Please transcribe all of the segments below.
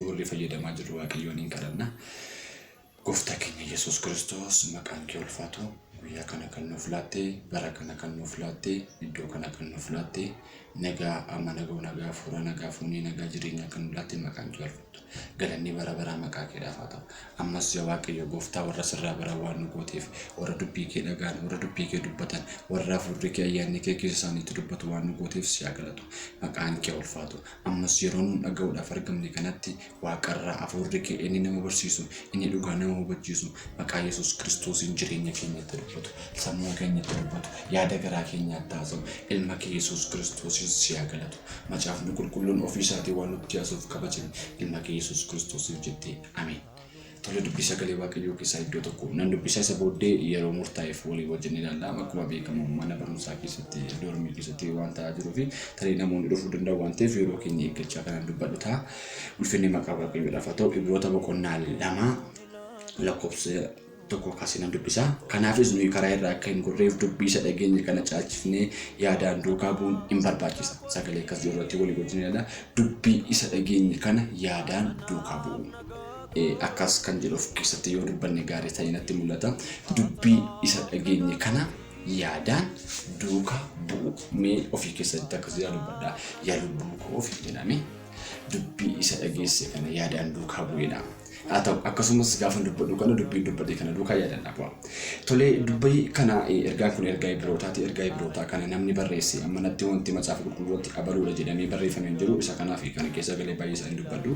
warri fayyadamaa jirru waaqayyoon hin kadhanna. Gooftaa keenya Yesuus Kiristoos maqaan kee ulfaatu guyyaa kana kan nuuf laatte bara kana kan nuuf laatte iddoo kana kan nuuf laatte nagaa amma nagoo nagaa fuura nagaa fuunee nagaa jireenyaa kan nuuf laatte maqaan kee ulfaatu galanni bara baraa maqaa keedhaaf haa ta'u ammas yaa waaqayyo gooftaa warra sirraa baraa waan nu gooteef warra dubbii kee dhagaan warra dubbii kee dubbatan warra hafuurri kee ayyaanni kee keessa isaaniitti dubbatu waan nu gooteef si haa galatu maqaan kee ulfaatu Ammas yeroo nuun dhaga'uudhaaf argamne kanatti Waaqarraa Afuurri kee inni nama barsiisu, inni dhugaa nama hubachiisu, maqaa Yesuus Kiristoosiin jireenya keenyatti dubbatu, sammuu keenyatti dubbatu, yaada garaa keenyaatti haasa'u, Ilma kee Yesuus Kiristoosiin si haa galatu. Macaafni Qulqulluun ofii isaatii waan nutti haasa'uuf kabajami, Ilma kee Yesuus Kiristoosiif jettee. Ameen. Tole dubbii sagalee waaqayyoo keessaa iddoo tokko nan dubbisa isa booddee yeroo murtaa'eef walii wajjin ilaalla. Akkuma beekamu mana barumsaa keessatti doormii keessatti waan ta'aa jiruu fi tarii namoonni dhufuu danda'u waan ta'eef yeroo keenya eeggachaa kanan dubbadhu ta'a. Ulfinni maqaa waaqayyoodhaaf haa ta'u ibroota boqonnaa lama lakkoofsa tokko kaasee nan dubbisa. Kanaafis nuyi karaa irraa akka hin gorreef dubbii isa dhageenye kana caalchifnee yaadaan duukaa bu'uun hin barbaachisa. Sagalee akkas jiru irratti walii wajjin ilaalla. Dubbii isa dhageenye kana yaadaan duukaa bu'u. akkas kan jedhu of keessatti yoo dubbanne gaarii ta'ee natti mul'ata. Dubbii isa dhageenye kana yaadaan duukaa bu'u. Mee ofii keessatti akkas jedhaa dubbadha. Yaa lubbuu koo ofiin jedhame dubbii isa dhageesse kana yaadaan duukaa bu'edha. Haa ta'u akkasumas gaafa dubbadhu kana dubbiin dubbate kana duukaa yaadaan dhabu'a. Tolee dubbii kana ergaan kun ergaa Ibrootaati. Ergaa Ibrootaa kana namni barreesse ammanatti wanti macaafa qulqulluutti abaluudha jedhamee barreeffame hin jiru. Isa kanaaf kana keessa galee baay'ee isaa hin dubbadhu.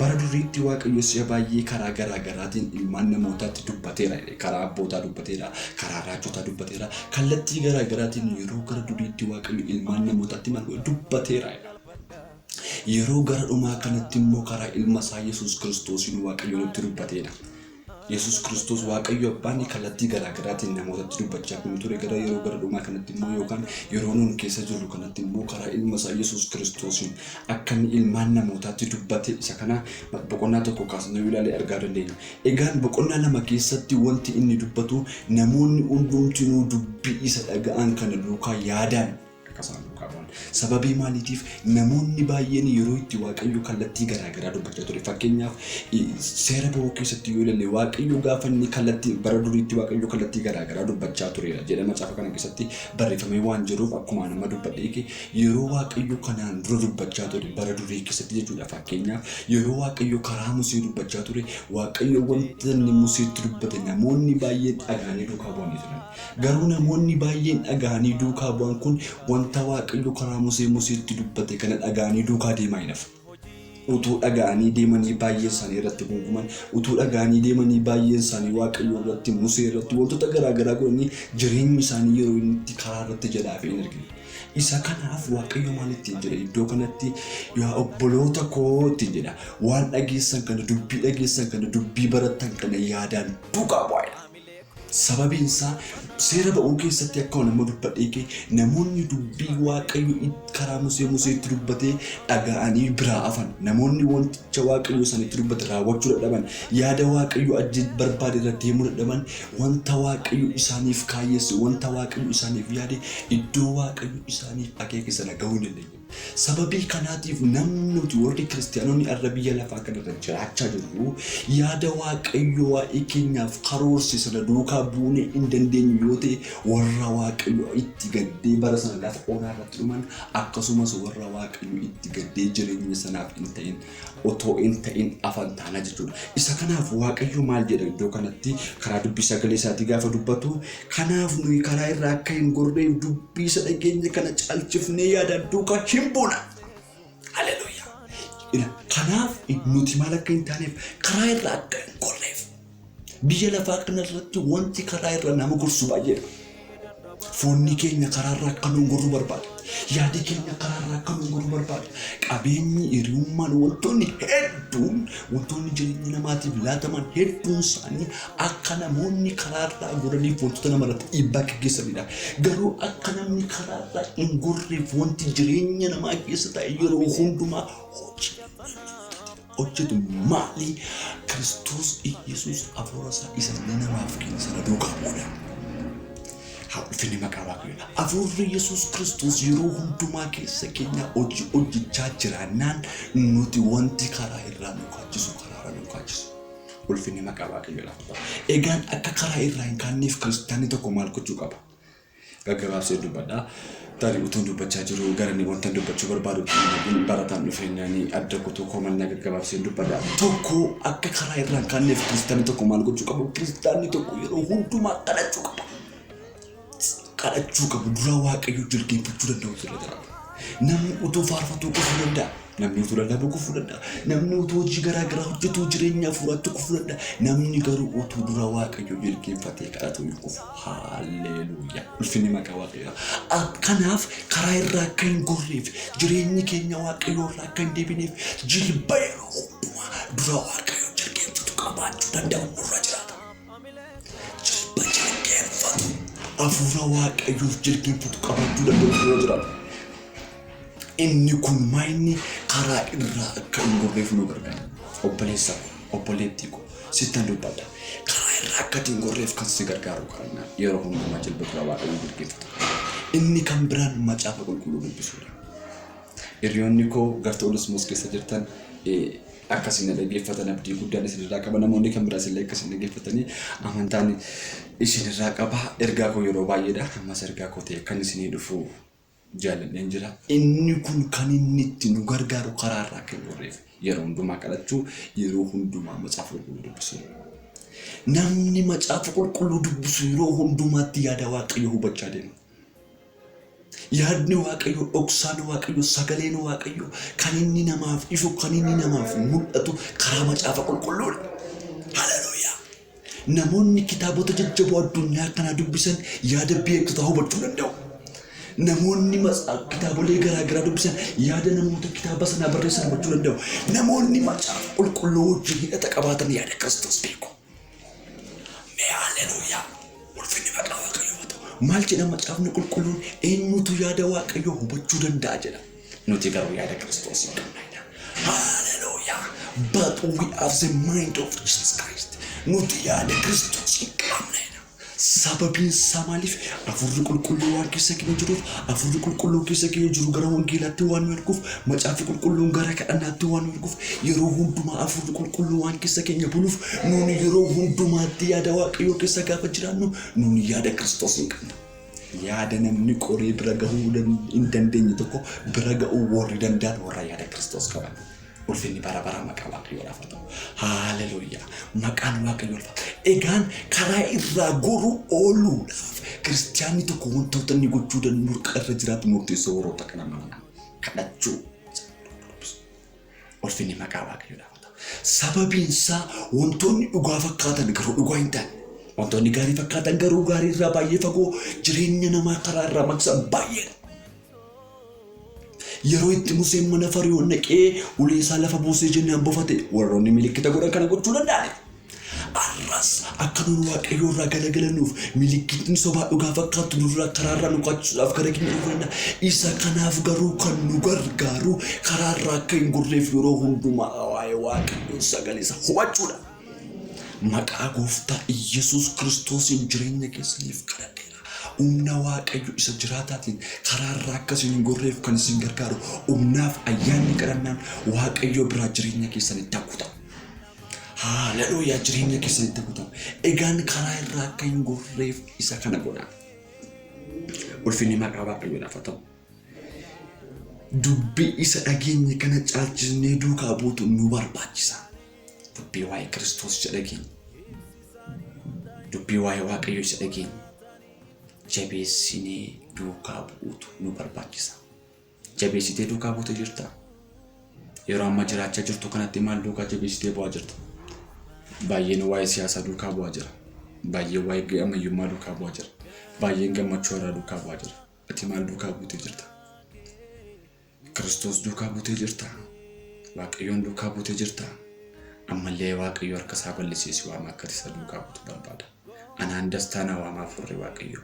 Bara duriitti Waaqayyo si'a baay'ee karaa garaa garaatiin ilmaan namootaatti dubbateera. Karaa abbootaa dubbateera, karaa raajotaa dubbateera, kallattii garaa garaatiin yeroo gara duriitti Waaqayyo ilmaan namootaatti maal godhe? Dubbateera. Yeroo gara dhumaa kanatti immoo karaa ilma isaa Yesuus Kiristoosiin Waaqayyo nutti dubbateera. Yesus Kristos Waaqayyo Abbaan kallattii garaa garaatiin namootatti dubbachaa kan ture gara yeroo gara dhumaa kanatti immoo yookaan yeroo nuun keessa jirru kanatti immoo karaa ilma isaa Yesus Kiristosiin akka inni ilmaan namootaatti dubbate isa kana boqonnaa tokko kaasnee yoo ilaalle argaa dandeenya. Egaan boqonnaa lama keessatti wanti inni dubbatu namoonni hundumtinuu dubbii isa dhaga'an kana duukaa yaadaan akka isaan duukaa bu'an. Sababii maaliitiif namoonni baay'een yeroo itti Waaqayyo kallattii garaa garaa dubbachaa ture. Fakkeenyaaf seera ba'uu keessatti yoo ilalle Waaqayyo gaafa inni kallattii bara duriitti Waaqayyo kallattii garaa garaa dubbachaa tureera jedha macaafa kana keessatti barreeffamee waan jiruuf akkuma nama dubbadhee kee yeroo Waaqayyo kanaan dura dubbachaa ture bara durii keessatti jechuudha. Fakkeenyaaf yeroo Waaqayyo karaa Musee dubbachaa ture Waaqayyo wanta inni Museetti dubbate namoonni baay'een dhagaanii duukaa bu'anii turan. Garuu namoonni baay'een dhaga'anii duukaa bu'an kun wanta Waaqayyo karaa Musee Museetti dubbate kana dhaga'anii duukaa deemaa hin hafne. Utuu dhaga'anii deemanii baay'een isaanii irratti guunguman, utuu dhaga'anii deemanii baay'een isaanii Waaqayyo irratti, Musee irratti wantoota garaa garaa godhanii jireenyi isaanii yeroo inni itti karaa irratti jalaa hafe hin argine. Isa kanaaf Waaqayyo maal ittiin jedha iddoo kanatti yaa obboloota koo ittiin jedha waan dhageessan kana dubbii dhageessan kana dubbii barattan kana yaadaan duukaa bu'aa jedha. Sababiin isaa seera ba'uu keessatti akkuma nama dubbadhee kee namoonni dubbii waaqayyo karaa musee museetti dubbatee dhaga'anii biraa afan namoonni wanticha waaqayyo sanitti dubbate raawwachuu dadhaban yaada waaqayyo ajjee barbaade irra deemuu dadhaban wanta waaqayyo isaaniif kaayyeesse wanta waaqayyo isaaniif yaade iddoo waaqayyo isaaniif akeeke sana ga'uu hin dandeenye. Sababii kanaatiif namni nuti warri Kiristiyaanonni har'a biyya lafaa kanarra jiraachaa jirru yaada Waaqayyo waa'ee keenyaaf karoorse sana duukaa buunee hin dandeenyu yoo ta'e warra Waaqayyo itti gaddee bara sana lafa onaa irratti dhuman akkasumas warra Waaqayyo itti gaddee jireenya sanaaf hin ta'in otoo hin ta'in afan taana jechuudha. Isa kanaaf Waaqayyo maal jedha iddoo kanatti karaa dubbii sagalee isaatii gaafa dubbatu kanaaf nuyi karaa irra akka hin gorreef dubbii isa dhageenya kana caalchifnee yaadaan duukaa hin buuna. Haleluuyaa! Ila- Kanaaf nuti maal akka hin taaneef karaa irra akka hin gorreef Biyya lafaa kanarratti wanti karaa irra nama gorsu baay'eedha. Foonni keenya karaarra akka nuun gorru barbaada. Yaadi keenya karaarra akka nuun gorru barbaada. Qabeenyi, hiriyummaan, wantoonni hedduun, wantoonni jireenya namaatiif laataman hedduun isaanii akka namoonni karaarraa goraniif wantoota namarratti dhiibbaa gaggeessanidha. Garuu akka namni karaarraa hin gorreef wanti jireenya namaa keessa taa'e yeroo hundumaa hojii. hojjetu maali? Kiristoos Iyyasuus Hafuura isaa isa inni namaaf kenne sana duukaa bu'uudha. Haa ulfinni maqaa Waaqayyoodha. Hafuurri Yesuus Kiristoos yeroo hundumaa keessa keenyaa hojii hojjechaa jiraannaan nuti wanti karaa irraa nu kaachisu karaa irraa nu kaachisu. Ulfinni maqaa Waaqayyoodha. Egaan akka karaa irraa hin kaanneef kiristaanni tokko maal gochuu qaba? gaggabaabsee dubbadha. Tarii utuun dubbachaa jiru garanii wantan dubbachuu barbaadu hin barataan dhufeenyaanii adda kutuu koo mannaa gaggabaabseen dubbadha. Tokko akka karaa irraan kaanneef kiristaanni tokko maal gochuu qabu? Kiristaanni tokko yeroo hundumaa kadhachuu qaba. Kadhachuu qabu duraa waaqayyoo jilbeenfachuu danda'u irra jiraata. Namni utuu faarfatuu kufuu danda'a. Namni utuu lallabuu kufuu danda'a. Namni utuu hojii garaa garaa hojjetuu jireenya hafuuraatti kufuu danda'a. Namni garuu utuu dura Waaqayyoo jilbeenfatee kadhatuu hin kufu. Haalleeluuyaa! Ulfinni maqaa Waaqayyoo. A- Kanaaf karaa irraa akka hin gorreef, jireenyi keenya Waaqayyoo irraa akka hin deebineef jilba yeroo hundumaa dura Waaqayyoo jilbeenfatu qabaachuu danda'u nurra jiraata. Jilbeenfatu. Afuura Waaqayyoof jilbeenfatu qabaachuu danda'u irra jira. Inni kun maayinni karaa irraa akka hin gorreef nu gargaara. Obboleessa ko, obboleettii ko, sittan dubbadha. Karaa irraa akka ati hin gorreef kan si gargaaru kadhannaa yeroo hundumaa jilba dura Waaqayyoo jilbeenfatu. Inni kan biraan macaafa qulqulluu dubbisuudha. Hiriyoonni koo gartuu Onesmoos keessa jirtan eh, akka isin na dhaggeeffatan abdii guddaan isinirraa qaba namoonni kan biraas illee akka isin dhaggeeffatanii amantaan isinirraa qaba ergaa koo yeroo baay'eedha ammas ergaa koo ta'e kan isinii dhufu jaalladheen jira inni kun kan inni itti nu gargaaru karaa irraa akka hin gorreef yeroo hundumaa kadhachuu yeroo hundumaa macaafa qulqulluu dubbisuu namni macaafa qulqulluu dubbisu yeroo hundumaatti yaada waaqayyo hubachaa deema Yaadni Waaqayyoo dhoksaan Waaqayyoo sagaleen Waaqayyoo kan inni namaaf ifu kan inni namaaf mul'atu karaa macaafa qulqulluudha. Haleluuyaa! Namoonni kitaabota jajjaboo addunyaa kanaa dubbisan yaada beektotaa hubachuu danda'u. Namoonni matsa- kitaabolee garaa garaa dubbisan yaada namoota kitaaba sanaa barreessan hubachuu danda'u. Namoonni macaafa qulqulluu wajjin hidhata qabaatan yaada Kiristoos beeku. Mee haalleluuyaa! Ulfinni maqaa Waaqayyoof haa ta'u. Maal jedha Macaafni Qulqulluun? Eenyutu yaada Waaqayyoo hubachuu danda'a jedha. Nuti garuu yaada Kiristoosiin qabna jedha. Haalleluuyaa! But we have the mind of Jesus Christ. Nuti yaada Kiristoosiin qabna jedha. Sababiin isaa maaliif? Afuurri Qulqulluu waan keessa keenya jiruuf, Afuurri Qulqulluun keessa keenya jiru gara Wangeelaatti waan nu erguuf, Macaafni Qulqulluun gara kadhannaatti waan nu erguuf, yeroo hundumaa Afuurri Qulqulluu waan keessa keenya buluuf, nuuni yeroo hundumaatti yaada Waaqayyoo keessa gaafa jiraannu, nuuni yaada Kiristoos in qabna. Yaada namni qoree bira gahuu hin dandeenye tokko bira ga'uu warri danda'an warra yaada Kiristoos qaban. Ulfinni bara baraa maqaa Waaqayyoodhaaf haa ta'u. Haaleluyyaa! Maqaan Waaqayyoo ulfaata. Egaan karaa irraa goruu ooluudhaaf kiristiyaanni tokko wantoota inni gochuu danda'u murqa irra jiraatu murteessoo warroota kana mana kadhachuu. Ulfinni maqaa Waaqayyoodhaaf haa ta'u. Sababiin isaa wantoonni dhugaa fakkaatan garuu dhugaa hin taane. Wantoonni gaarii fakkaatan garuu gaarii irraa baay'ee fagoo jireenya namaa karaa irraa maqsan baay'eedha. Yeroo itti Museen mana Fari'oon dhaqee ulee isaa lafa buusee jennaan bofate warroonni milikkita godhan kana gochuu danda'aniiru. Arras akka nuun Waaqayyoo irraa galagalannuuf milikkitni sobaa dhugaa fakkaattu nurraa karaarraa nu kaachisuudhaaf gara keenya dhufuu danda'a. Isa kanaaf garuu kan nu gargaaru karaarraa akka hin gorreef yeroo hundumaa waa'ee Waaqayyoo sagalee isaa hubachuudha. Maqaa gooftaa Iyyasuus Kiristoosiin jireenya keessaniif kadhadheera. Humna Waaqayyo isa jiraataatiin karaa irraa akka isin hin gorreef kan isin gargaaru humnaaf ayyaanni kadhannaan Waaqayyoo biraa jireenya keessanitti haa guutamu. Haaleluyyaa jireenya keessanitti haa guutamu. Egaan karaa irraa akka hin gorreef isa kana godhaa. Ulfinni maqaa Waaqayyoodhaaf haa ta'u. Dubbii isa dhageenye kana caalchisnee duukaa buutu nu barbaachisa. Dubbii waa'ee Kiristoos isa dhageenya. Dubbii waa'ee Waaqayyo isa dhageenya. Jabeessinee duukaa bu'uutu nu barbaachisa. Jabeessitee duukaa buute jirta. Yeroo amma jiraachaa jirtu kanatti maal duukaa jabeessitee bu'aa jirta? Baay'een waa'ee siyaasaa duukaa bu'aa jira. Baay'een waa'ee ammayyummaa duukaa bu'aa jira. Baay'een gammachuu irraa duukaa bu'aa jira. Ati maal duukaa buutee jirta? Kiristoos duukaa buutee jirta. Waaqayyoon duukaa buutee jirta. Ammallee Waaqayyo harka isaa bal'isee si waama akka isa duukaa buutu barbaada. Anaan dastaa na waama hafuurri Waaqayyo.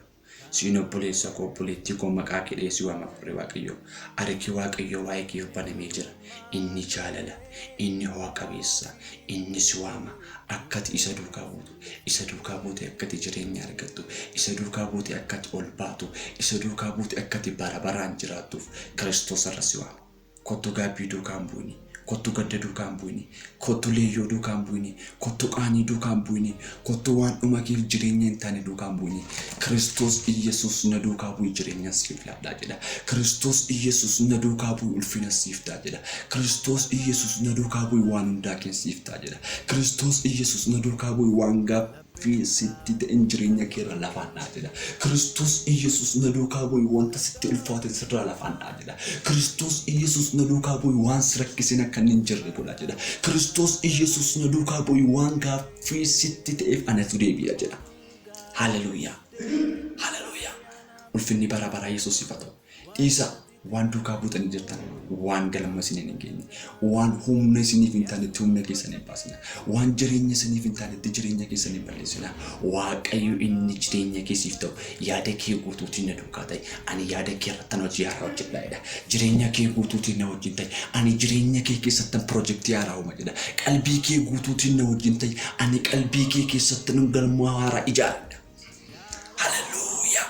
Siin obboleessa koo obboleettii koo maqaa keedhee si waama hafuurri Waaqayyo. Harki Waaqayyo waa'ee kee banamee jira. Inni jaalala, inni ho'a qabeessa, inni si waama akkati isa duukaa buutu. Isa duukaa buutee akka ati jireenya argattu, isa duukaa buutee akka ati ol baatu, isa duukaa buutee akka ati bara baraan jiraattuuf Kiristoos har'a si waama. Kottu gaabbii duukaa hin bu'ini, kottu gadda duukaa hin bu'ini, kottu leeyyoo duukaa hin bu'ini, kottu qaanii duukaa hin bu'ini, kottu waan dhuma keef jireenya hin taane duukaa hin bu'ini. Kiristoos Iyyesuus na duukaa bu'i jireenyan siif laadhaa jedha. Kiristoos Iyyesuus na duukaa bu'i ulfinas siif ta'a jedha. Kiristoos Iyyesuus na duukaa bu'i waan hundaa keen siif ta'a jedha. Kiristoos Iyyasuus na duukaa bu'i waan gaaffii sitti ta'een jireenya keerra lafaan dha'a jedha. Kiristoos Iyyasuus na duukaa bu'i wanta sitti ulfaate sirraa lafaan dha'a jedha. Kiristoos Iyyasuus na duukaa bu'i waan si rakkiseen akka inni hin jirre godha jedha. Kiristoos Iyyasuus na duukaa bu'i waan gaaffii sitti ta'eef anatu deebi'a jedha. Haleluuyaa! Haleluuyaa! Ulfinni bara baraa Yesuusiif haa ta'u. Dhiisaa! waan duukaa buutanii jirtan waan galma isiniin hin geenye waan humna isiniif hin taanetti humna keessan hin baasina waan jireenya isiniif hin taanetti jireenya keessan hin balleessina waaqayyo inni jireenya keessiif ta'u yaada kee guutuutiin na duukaa ta'e ani yaada kee irratti hojii haaraa hojjedha jedha jireenya kee guutuutiin na wajjin ta'e ani jireenya kee keessatti pirojektii haaraa uuma jedha qalbii kee guutuutiin na wajjin ta'e ani qalbii kee keessatti nan galma haaraa ijaara jedha. Haleluuyaa!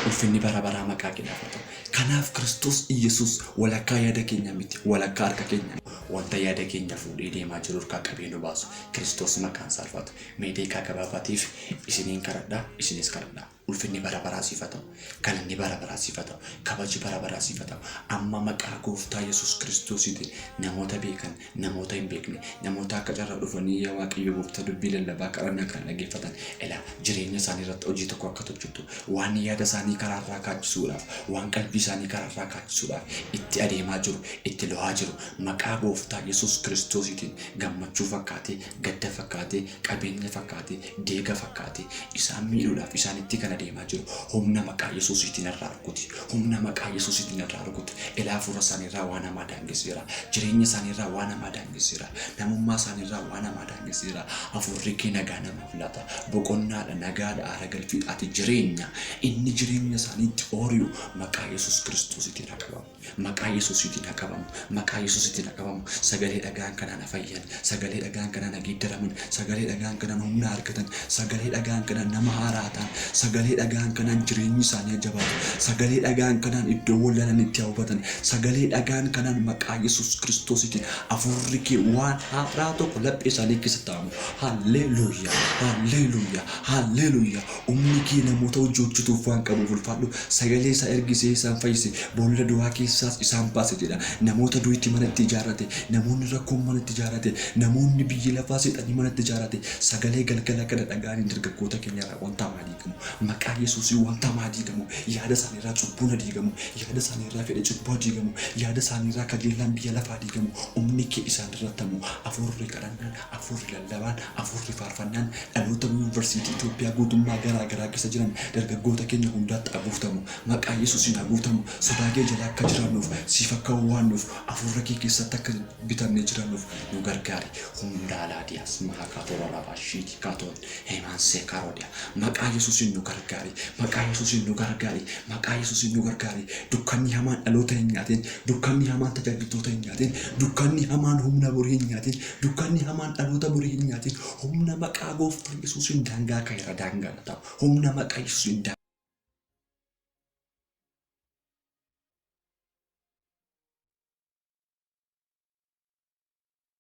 Ulfinni bara baraa maqaa keedhaaf haa ta'u. Kanaaf Kiristoos Iyyasuus walakkaa yaada keenyaa miti, walakkaa harka keenyaa. Wanta yaada keenya fuudhee deemaa jiru irkaa qabee nu baasu. Kiristoos maqaan isaa ulfaatu. Mee deeqaa gabaabaatiif isiniin kadhadha, isinis kadhadhaa. Ulfinni bara baraa siif haa ta'u. Galanni bara baraa siif haa ta'u. Kabaji bara baraa siif haa ta'u. Amma maqaa Gooftaa Yesuus Kiristoosiitiin namoota beekan namoota hin beekne, namoota akka carraa dhufanii yaa Waaqayyo gooftaa dubbii lallabaa kadhannaa kana dhageeffatan ilaa jireenya isaanii irratti hojii tokko akka tolchitu waan yaada isaanii karaa irraa kaachisuudhaaf waan qalbii isaanii karaa irraa kaachisuudhaaf itti adeemaa jiru itti lo'aa jiru maqaa gooftaa Yesuus Kiristoosiitiin gammachuu fakkaatee gadda fakkaatee qabeenya fakkaatee deega fakkaatee isaan miidhuudhaaf isaanitti kan adeemaa jiru humna maqaa Yesuusiitiin irraa rukuti. Humna maqaa Yesuusiitiin irraa rukuti. Ilaa hafuura isaanii irraa waan hamaa daangesseera. Jireenya isaanii irraa waan hamaa daangesseera. Namummaa isaanii irraa waan hamaa daangesseera. Hafuurri kee nagaa namaaf laata. Boqonnaadha, nagaadha, haara galfiidha. Ati jireenya. Inni jireenya isaaniitti oori'u maqaa Yesuus Kiristoosiitiin haa qabamu. Maqaa yesusiitiin ha qabamu maqaa yesusiitiin ha qabamu sagalee dhagaan kanaan ha fayyan sagalee dhagaan kanaan ha geeddaraman sagalee dhagaan kanaan humna argatan sagalee dhagaan kanaan nama haaraa ta'an sagalee dhagaan kanaan jireenyi isaanii ha jabaatu sagalee dhagaan kanaan iddoo wallalanitti ha hubatan sagalee dhagaan kanaan maqaa yesus kiristoosiitiin afuurri kee waan haaraa tokko laphee isaanii keessatti ta'amu halleeluuyaa halleeluuyaa halleeluuyaa Humni kee namoota hojii hojjetuuf waan qabuuf ulfaadhu. Sagalee isaa ergisee isaan fayyise, boolla du'aa keessaas isaan baase jedha. Namoota du'etti mana itti ijaarrate, namoonni rakkoon mana itti ijaarrate, namoonni biyyi lafaa seexanni mana itti ijaarrate. Sagalee galgala kana dhaga'anii dargaggoota keenya irraa wantaa maa diigamu? Maqaa Yesuusiin wantaa maa diigamu? Yaada isaanii irraa cubbuun ha diigamu. Yaada isaanii irraa fedhe cubbuu ha diigamu. Yaada isaanii irraa kajeellaan biyya lafaa ha diigamu. Humni kee isaan irratti ha bu'u. Afuurri kadhannaa dha. Afuurri lallabaan, afuurri faarfannaan dhaloota Yuunvarsiitii Itoophiyaa guutummaa garaa garaa keessa jiran dargaggoota keenya hundaatti haa guutamu. Maqaa Yesuusiin haa guutamu. Sodaa kee jala akka jiraannuuf, siif akka wawwaannuuf, afuurra kee keessatti akka bitamnee jiraannuuf nu gargaari. Humnaa Laadiyaas Mahaa Kaatoo Raraabaa Shiitii Kaatoo. Heemaan Seekaaroodiyaa maqaa yesuusiin nu gargaari maqaa yesuusiin nu gargaari maqaa yesuusiin nu gargaari dukkanni hamaan dhaloota hin nyaatiin dukkanni hamaan tajaajiltoota hin nyaatiin dukkanni hamaan humna borii hin nyaatiin dukkanni hamaan dhaloota borii hin nyaatiin humna maqaa gooftaa yesuusiin daangaa kaira daangaa na ta'u humna maqaa yesuusiin